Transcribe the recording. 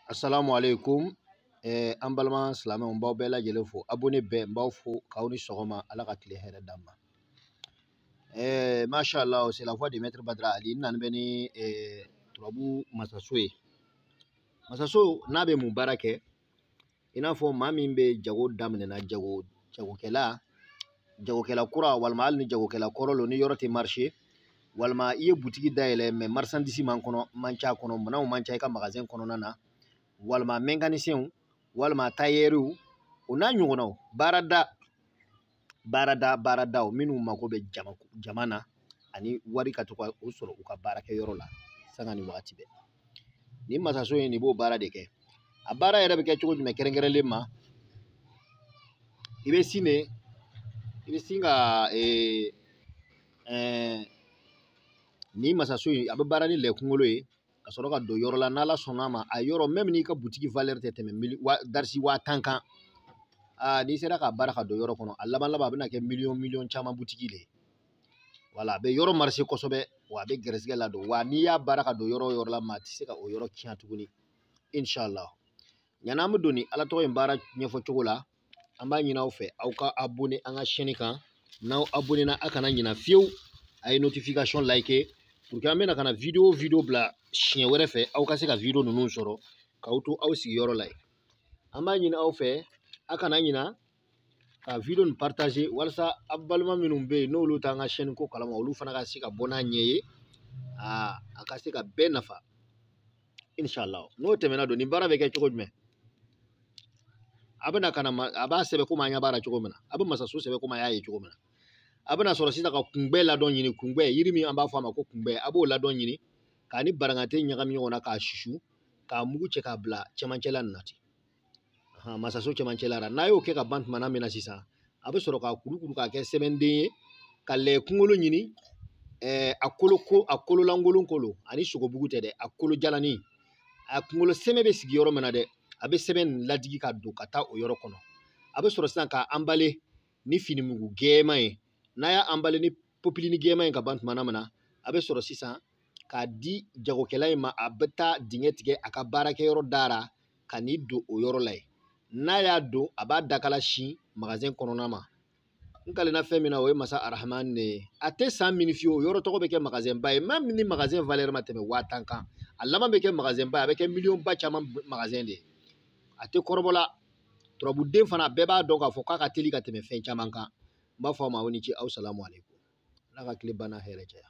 Assalamu alaikum eh, an balima silamɛw n b'aw bɛɛ lajɛlen fo abonné bɛɛ n b'aw fo k'aw ni sɔgɔma ala ka tile hɛrɛ d'an ma eh, masha allah c'est la voix de maître badra ali n nani bɛ ni eh, turabu masaso ye masaso nin bɛ mun baara kɛ i n'a fɔ maa min bɛ jago daminɛna jago jagokɛla jagokɛla kura walima hali ni jagokɛla kɔrɔ lo ni yɔrɔ tɛ marché walima i ye butigi dayɛlɛ mais marchandise man kɔnɔ man ca kɔnɔ minɛnw man ca i ka magazɛn kɔnɔna na walima mekanisɛnw walima tayɛriw o n'a ɲɔgɔnnaw baarada baarada baaradaw minnu mako bɛ jama jama na ani wari ka to ka o sɔrɔ u ka baarakɛyɔrɔ la sanga ni wagati bɛɛ nin masaso in nin b'o baara de kɛ a baara yɛrɛ bɛ kɛ cogo jumɛn kɛrɛnkɛrɛnlen ma i bɛ sin de i bɛ sin ka ee ɛɛ nin masaso in a bɛ baara ni lɛ kunkolo ye ka sɔrɔ ka don yɔrɔ la n'ala sɔnna a ma a yɔrɔ même n'i ka butigi valeur tɛ tɛmɛ mili wa darisi waa tan kan aa n'i sera k'a baara ka don yɔrɔ kɔnɔ a laban laban a bɛna kɛ miliyɔn miliyɔn caman butigi de ye voilà a bɛ yɔrɔ marché kosɛbɛ wa a bɛ gɛrɛsɛgɛ ladon wa n'i y'a baara ka don yɔrɔ o yɔrɔ la maa tɛ se ka o yɔrɔ tiɲɛ tuguni inshallah yan'an bɛ don nin ala tɔgɔ in baara ɲɛfɔ cogo la an b'a ɲini aw fɛ aw ka abonné an ka chaîne kan n'aw abonné na a kana ɲina fiyewu a ye notification like pour que an bɛna ka na video o video bila siɲɛ wɛrɛ fɛ aw ka se ka video ninnu sɔrɔ k'aw to aw sigiyɔrɔ la yen an b'a ɲini aw fɛ a kana ɲina ka video nin partager walasa aw balima minnu bɛ yen n'olu t'an ka chaîne ko kalama olu fana ka se ka bɔ n'a ɲɛ ye a ka se ka bɛɛ nafa inshallah n'o tɛmɛna don nin baara bɛ kɛ cogo jumɛn a bɛna ka na a b'a sɛbɛn komi an ɲɛ b'a la cogo min na a bɛ masaso sɛbɛn komi a y'a ye cogo min na a bɛna sɔrɔ sisan ka kunbɛ ladɔn ɲini kunbɛ yiri min an b'a fɔ a ma ko kunbɛ a b'o ladɔn ɲini k'a ni barangante ɲagami ɲɔgɔn na k'a susu k'a mugu cɛ k'a bila cɛmancɛla nin na ten masaso cɛmancɛ la n'a y'o kɛ ka ban tumana min na sisan a bɛ sɔrɔ k'a kurukuru k'a kɛ sɛbɛnden ye ka lɛ kunkolo ɲini ɛɛ a kolo ko a kolo lankolon kolo a ni sogobugu tɛ dɛ a kolo jalani a kunkolo sɛmɛ bɛ sigi yɔrɔ min na dɛ a bɛ sɛbɛn nin ladigi ka don ka taa o yɔrɔ kɔnɔ a bɛ sɔrɔ sisan k'a emballer ni finimugu gɛɛman ye n'a y'a emballer ni popilini gɛɛman ye ka ban tumana min na a bɛ sɔrɔ sisan k'a di jagokɛla in ma a bɛ taa dingɛ tigɛ a ka baarakɛyɔrɔ dara ka nin don o yɔrɔ la yen n'a y'a don a b'a dakala sin magazɛn kɔnɔna ma n kalenna fɛn min na o ye masa arahaman ne ye a tɛ san minɛ fiyewu o yɔrɔ tɔgɔ bɛ kɛ magazɛnba ye même ni magazɛn valeur ma tɛmɛ waa tan kan a laban bɛ kɛ magazɛnba ye a bɛ kɛ miliyɔnba caman magazɛn de ye a tɛ kɔrɔbɔla turabuden fana bɛɛ b'a dɔn k'a fɔ k'a ka teli ka tɛmɛ fɛn caman kan n b'a fɔ a ma aw ni ce assalamu alaikum ala ka tile banna hɛrɛ caya